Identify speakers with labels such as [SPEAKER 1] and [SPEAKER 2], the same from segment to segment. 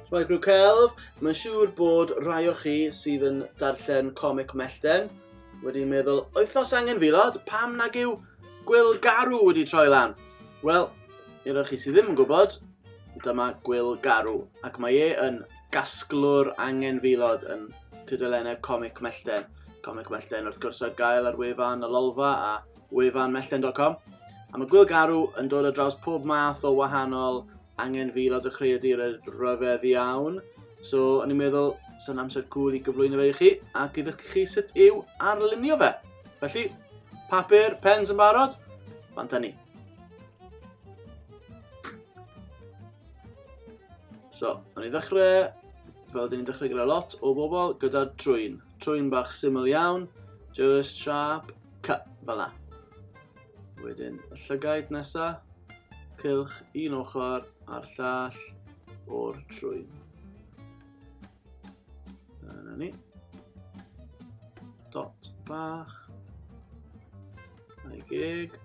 [SPEAKER 1] Rhaid grw celf, mae'n siŵr bod rai o chi sydd yn darllen comic mellten wedi meddwl, oes angen fi lod, pam nag yw gwyl garw wedi troi lan? Wel, i roi chi sydd ddim yn gwybod, dyma gwyl garw, ac mae e yn gasglwr angen filod yn tudalennau comic mellten. Comic Mellten wrth gwrs ar gael ar wefan y Lolfa a wefanmellten.com. A mae Gwyl Garw yn dod o draws pob math o wahanol angen fi lot o chreadur y rhyfedd iawn. So, o'n i'n meddwl, sy'n amser cool i gyflwyno fe i chi ac i ddysgu chi sut yw arlunio fe. Felly, papur, pens yn barod? Fanta ni. So, o'n i ddechrau, fel dyn ni'n dechrau gyda lot o bobl, gyda trwyn. Trwyn bach syml iawn, just sharp, cut, fel na. Wedyn, y llygaid nesa, cylch un ochr a'r llall o'r trwyn. Dyna ni. Dot bach. A'i geg.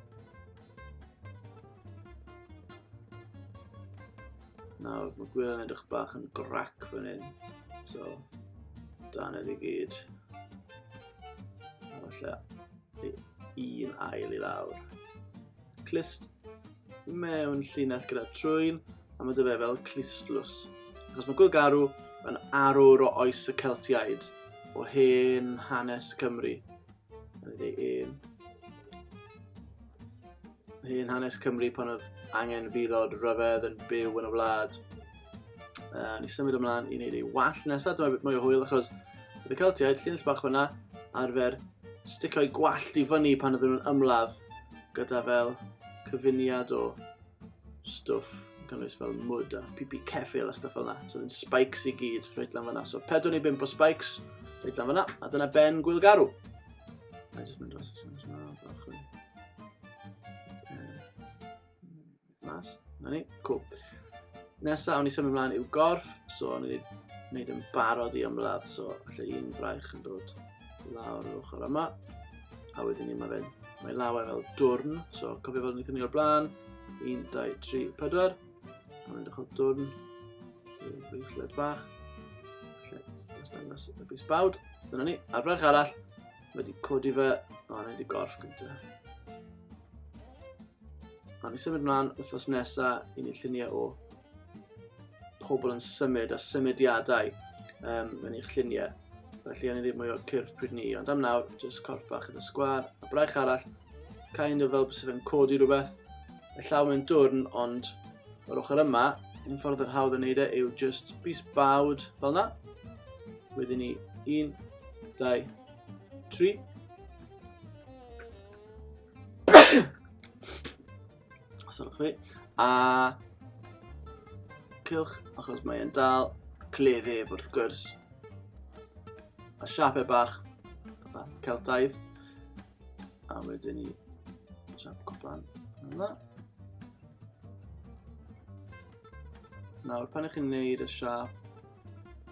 [SPEAKER 1] Nawr, mae gwir yn edrych bach yn grac fan hyn. So, dan i gyd. A falle un ail i lawr. Clist mewn llinell gyda trwyn, a mae dy fe fel clistlws. Achos mae Gwylgarw yn arwr o oes y Celtiaid, o hen hanes Cymru. un. Hyn hanes Cymru pan oedd angen filod rhyfedd yn byw yn y wlad. Uh, ni symud ymlaen i wneud ei wall nesaf, dyma beth mwy o hwyl achos bydd y Celtiaid, llinell bach hwnna, arfer sticio'i gwallt i fyny pan ydyn nhw'n ymladd gyda fel cyfuniad o stwff yn cynnwys fel mwd a pipi ceffil a stwff fel yna. So yn spikes i gyd, rhaid lan fyna. So pedwn i bimp o spikes, rhaid lan fyna, a dyna ben gwyl garw. A jyst mynd dros ysgrifennu yma, bach yn... Mas, na ni, cool. Nesa, awn i symud ymlaen i'w gorff, so awn i wneud yn barod i ymladd, so lle un fraich yn dod lawr yr ochr yma. A wedyn ni mae fe'n mae law e fel dwrn. So cofio fel wnaethon ni o'r blaen. 1, 2, 3, 4. A mae'n dechrau dwrn. Rwy'n bach. Felly, nes dangos y bus bawd. Dyna ni, ar frech arall. Mae wedi codi fe. O, na wedi gorff gyntaf. A mi symud mlaen wythnos nesaf i ni lluniau o pobl yn symud a symudiadau um, yn eich lluniau. Felly, o'n i ddim mwy o'r cyrff pryd ni, ond am nawr, jyst corff bach yn y sgwar, a braich arall, kind of fel bys yn codi rhywbeth, y llaw mewn dwrn, ond o'r ochr yma, un ffordd yr hawdd yn neud e yw just bus bawd fel yna. Wedyn ni, un, dau, tri. Os ydych chi. A... Cylch, achos mae e'n dal. Cleddyf, wrth gwrs. A siapau bach. Celtaidd. A wedyn ni... Siap cwpan. Yna. Nawr, pan ych chi'n neud y siap,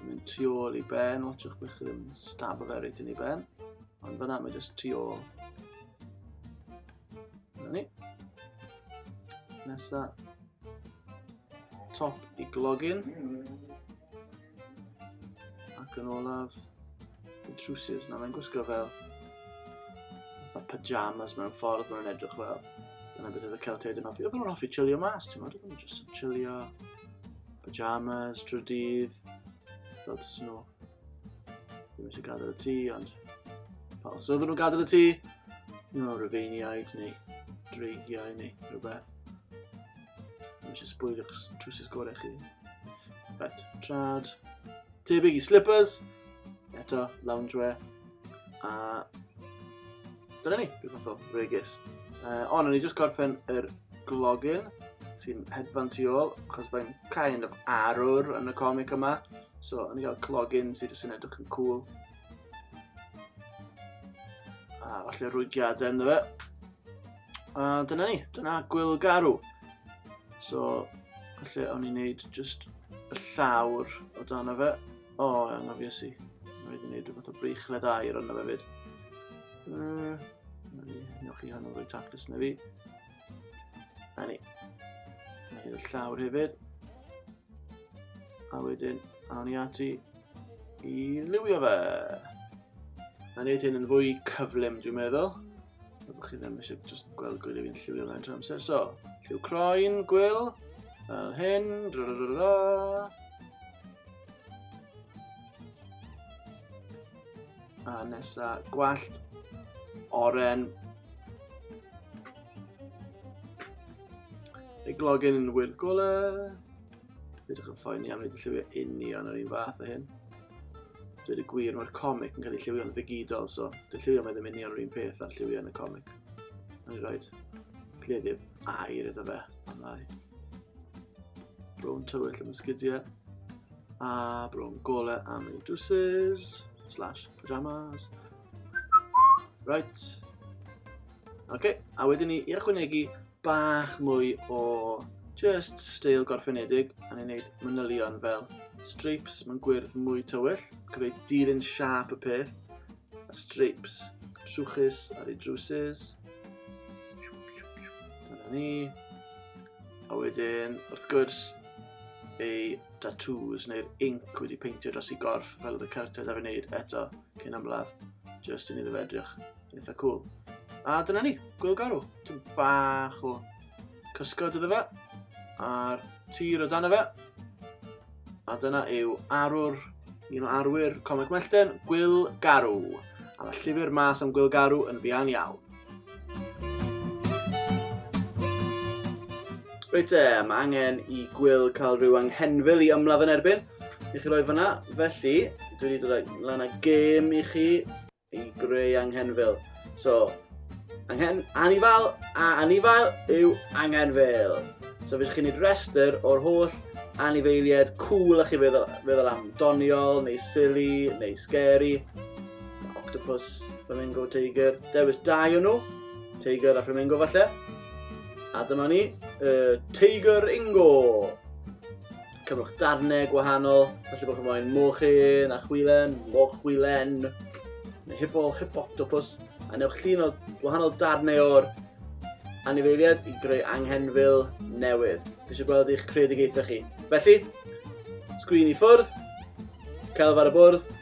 [SPEAKER 1] mynd tu ôl i ben, watchwch bych chi ddim stab o fe reit yn ei ben. Ond fyna mae jyst tu ôl Dyna ni. Nesa top i glogin. Ac yn olaf, y trwsus. Na, mae'n gwisgo fel fatha pyjamas mewn ffordd mae'n edrych fel. Dyna beth oedd y Celtiaid yn hoffi. Oedd nhw'n hoffi chillio mas, ti'n modd? Oedd nhw'n just yn chillio pyjamas, trwy dydd. Fel tys nhw. Ddim eisiau gadael y tŷ, ond... Pa os oedden nhw'n gadael y tŷ? No, rhyfeiniaid neu dreigiau neu rhywbeth. Ddim eisiau sbwylio'ch trwsus gorau chi. Right, trad. Tebyg i slippers. Eto, loungewear. A... Dyna ni, dwi'n fath o regis. Uh, ond o'n i jyst gorffen yr glogin sy'n hedfan tu ôl, achos mae'n kind of arwr yn y comic yma. So, o'n i gael clogin sydd jyst yn edrych yn cool. A falle rwygiadau ynddo fe. A dyna ni, dyna gwyl garw. So, falle o'n i'n neud just y llawr o dan o fe. O, oh, angofies i. Mae wedi neud rhywbeth o brychled air ond fe fyd. Uh, Newch chi hwnnw roi tactus na fi. A ni. Mae hyn y llawr hefyd. A wedyn, awn ni ati i liwio fe. A wneud hyn yn fwy cyflym, dwi'n meddwl. A bod chi ddim eisiau just gweld gwyl i fi'n lliwio fe'n trwy amser. So, lliw croen, gwyl, fel hyn, dra dra dra dra. A nesa, gwallt, oren, Ei glogen yn wyrdd gole. Rydych yn ffaen iawn wedi lliwio union yr un fath o hyn. Dwi'n y gwir, mae'r comic yn cael ei lliwio'n ddigidol, so dwi'n lliwio mae ddim union yr un peth ar lliwio yn y comic. Mae'n rhoi cleddyf air iddo fe, am lai. Brown tywyll am ysgidiau, a brown gole am ei dwsys, slash pyjamas. Right. Oce, a wedyn ni i ychwanegu bach mwy o just steil gorffenedig, a ni'n neud manylion fel stripes mewn gwyrdd mwy tywyll, gyfeu dilyn siap y peth, a stripes trwchus ar ei drwsus. Dyna ni. A wedyn, wrth gwrs, ei tattoos neu'r inc wedi peintio dros ei gorff fel oedd y cartiau da fi wneud eto cyn ymladd, just i ni ddefedrych Eitha cool. A dyna ni, gwyl garw. Ti'n bach o cysgod iddo fe. A'r tir o dan fe. A dyna yw arwr, un o arwyr Comic Mellten, Gwyl Garw. A mae llyfr mas am Gwyl Garw yn fian iawn. Reit e, mae angen i Gwyl cael rhyw anghenfil i ymladd yn erbyn i chi roi fyna. Felly, dwi wedi dod lan â gêm i chi i greu anghenfil. So, anghen, anifail a anifail yw anghenfil. So, fes chi'n neud rhestr o'r holl anifeiliaid cool a chi feddwl, feddwl am doniol, neu silly, neu scary. Octopus, flamingo, tiger. Dewis dau o'n nhw. Tiger a flamingo falle. A dyma ni, uh, Tiger Ingo. Cyfwch darnau gwahanol, felly bod chi'n moyn mochyn a chwilen, moch chwilen, neu hipo, hipoctopus, a newch llun o gwahanol darnau o'r anifeiliaid i greu anghenfil newydd. Fi eisiau gweld eich creadigaethau chi. Felly, sgrin i ffwrdd, celf ar y bwrdd,